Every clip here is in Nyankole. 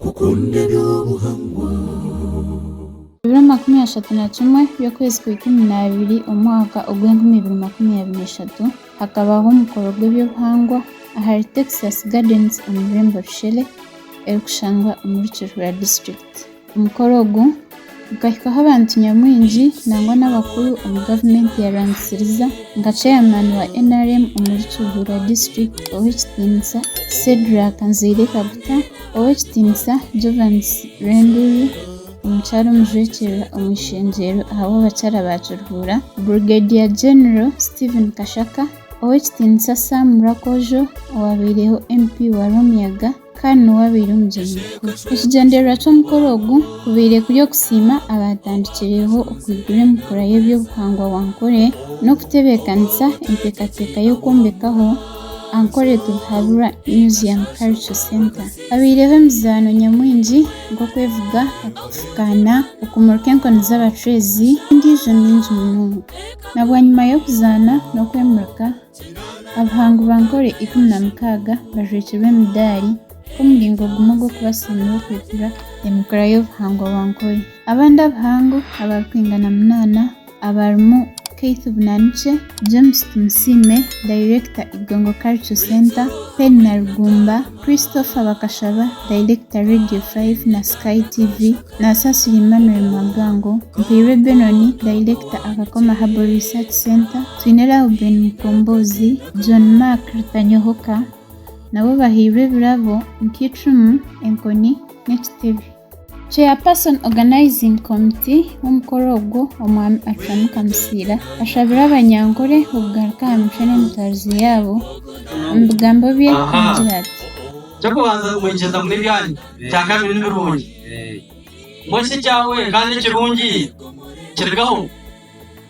Kukunda eby'obuhangwa. Ebiro makumi ashatu na kimwe by'okwezi kwa ikumi n'abiri omu mwaka ogw'enkumi ibiri makumi abiri na ishatu, hakabaho omukoro gw'eby'obuhangwa ahari Texas Gardens omu rurembo Rushele, erikushangwa omuri Kihura District. Omukoro ogu. Gukahikaho abantu nyamwingi nangwa n'abakuru omu gavumenti ya Rwamutsiriza nka chairman wa nrm omuri Kibura district ow'ekitiinisa Shedrack Nzeire Kaguta, ow'ekitiinisa Jovans Rwenduri, omukyara omujwekyerwa omu ishengyero ahabw'abakyara ba Kiruhura Brigadier General Steven Kashaka, ow'ekitiinisa Sam Rakojo owabaireho MP wa Rwamiyaga. kandi niwe abaire Omugyenyi Mukuru. Ekigyendererwa ky'omukoro ogu kubaire kuri okusiima abaatandikireho okwigura emikura y'eby'obuhangwa bwa Ankore n'okutebeekanisa enteekateeka y'okwombekaho Ankore Tubhaburwa Museum Cultural Centre. Habaireho emizaano nyamwingi nk'okwevuga, okufukaana, okumurika enkoni z'abacwezi n'endiijo mingi munonga. Na bwanyima y'okuzaana n'okwemurika, Abahangubankore ikumi na mukaaga bajwekyerwe emidaari nk'omuringo gumwe gw'okubasiimira okwikura emikura y'obuhangubankore. Abandi abahangu abarikwingana munaana abarimu Keith Bunanikye, James Tumusiime, dayirekita Igongo Cultural Centre, Penina Rugumba, Christopher Bakashaba, dayirekita Radio 5 na Sky TV, Nasasira Emmanuel Mwagango, Mpairwe Benon, dayirekita Akakoma Herbal Research Centre, Twine Reuben Mukombozi, John Mark Rutanyohoka nabo bahairwe ebirabo nk'icumu, enkoni n'ekitebe. Chairperson Organising Committee w'omukoro ogwo Omwami Achamu Kamusiira ashabire abanyankore okugaruka aha micwe n'emitwarize yaabo. Omu bigambo bye agira ati. Eky'okubanza mwegyeza mune ebyanyu, ekyakabiri ni birungi. Mbwenu shi ekyawe kandi ekirungi kirigaho?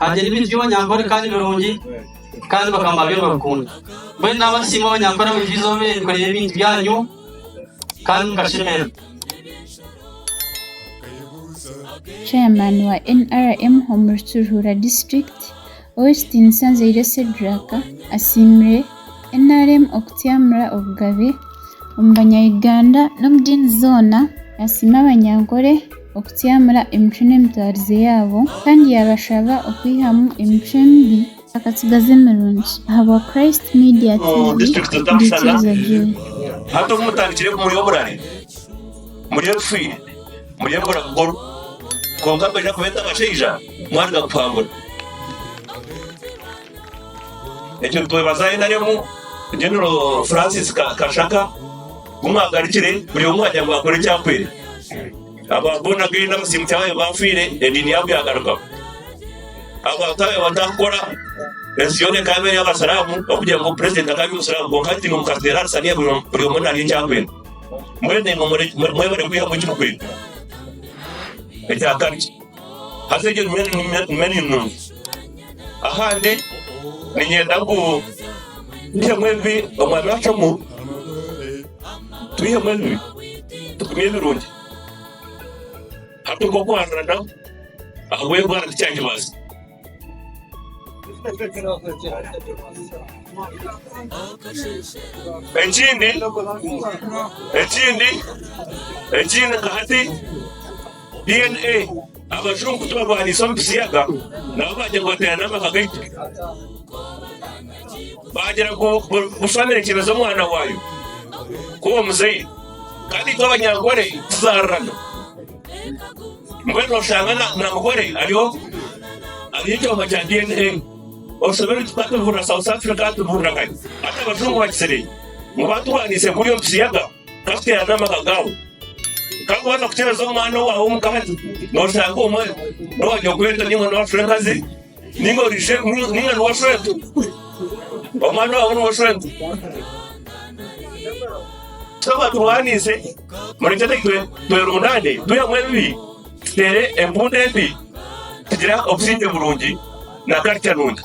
Hagira ebijwi abanyankore kandi birungi kandi bakama byona rukundo. Mbwenu nabasiima abanyankore abaijuize obe kureba ebintu byanyu kandi mukashemera. Chairman wa NRM omuri Kiruhura District, Ow'ekitiinisa Nzeire Cedrack asiimire NRM okutyamura obugabe omu banya Uganda n'omu diini zoona, nasiima abanyankore. okutsyamira emicwe n'emitwarize yaabo, kandi yaabashaba okwihamu emicwe emibi. Akatsigazi emirungi. Ahabwa Christ Media TV, ndiikiriza Joy. Hati obu mutandikire ku muri oburare, muri ebifiire, muri embura bukuru, kwonka kwija kubeeta abashaija, mwaruga kuhangura. Ekyo nitwebazaayo nari omu General Francis Kashaka ku mwagarukire buri omwe wagira ngu akore eki ahwere. Aba Born Again abasiimuki abaabaire baafiire ediini yaabo yaagarukaho. Abantu abaabaire batarikukora ensi yoona ekaba eri ey'Abasiraamu ahabw'okugira ngu purezidenti akaba ari Omusiraamu kwonka hati nimukazi deera ari saniya buri buri omwe naarya eki akwenda. Mbwenu naimwe mwebare kwihamu eki mukwenda. Ekya kabiri. Haza eryo niryo nungi. Ahandi niinyenda ngu twihemu ebibi omwami acwamu, twihemu ebibi tugumye ebirungi. Hati okwo kwaruranamu ahabw'endwara tikyandibaasa. Ekindi ekindi ekindi nka hati DNA abajungu tibarwanisa omu bisiyaga nabo bagira ngu bateerane amaka gaitu bagira ngu bu- bushwa neekyebeza omwana waayo kuba omuzaire kandi itwe abanyankore tuzaarana Mbwenu noshanga namugore ari ogu ari ekyoma kya DNA. Oshobeirwe tu tatubihurira South Africa tubihurira Kanye. Hati abajungu bakitsire ngu baturwanise kuri omu kisiyaga ka tuterane amaka gabu. Ka waza kukyereza omwana owawe omukazi noshanga omwe nowa nyokwetu ninga nowa frenkazi. Ninga orije ninga ni washwete omwana wawe ni washwete tukaba turwaniise murekyere twerundane twihemu ebibi tuteere empunda embi tugira obusingye burungi na karica nungi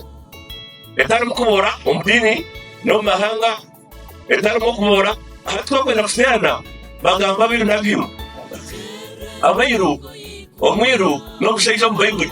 etarimu kuboora omu diini n'omu mahanga etarimu okuboora hati twakwenda kusiyaana bagamba abiru n'abiru abairu omwiru n'omushaija omu baibuli.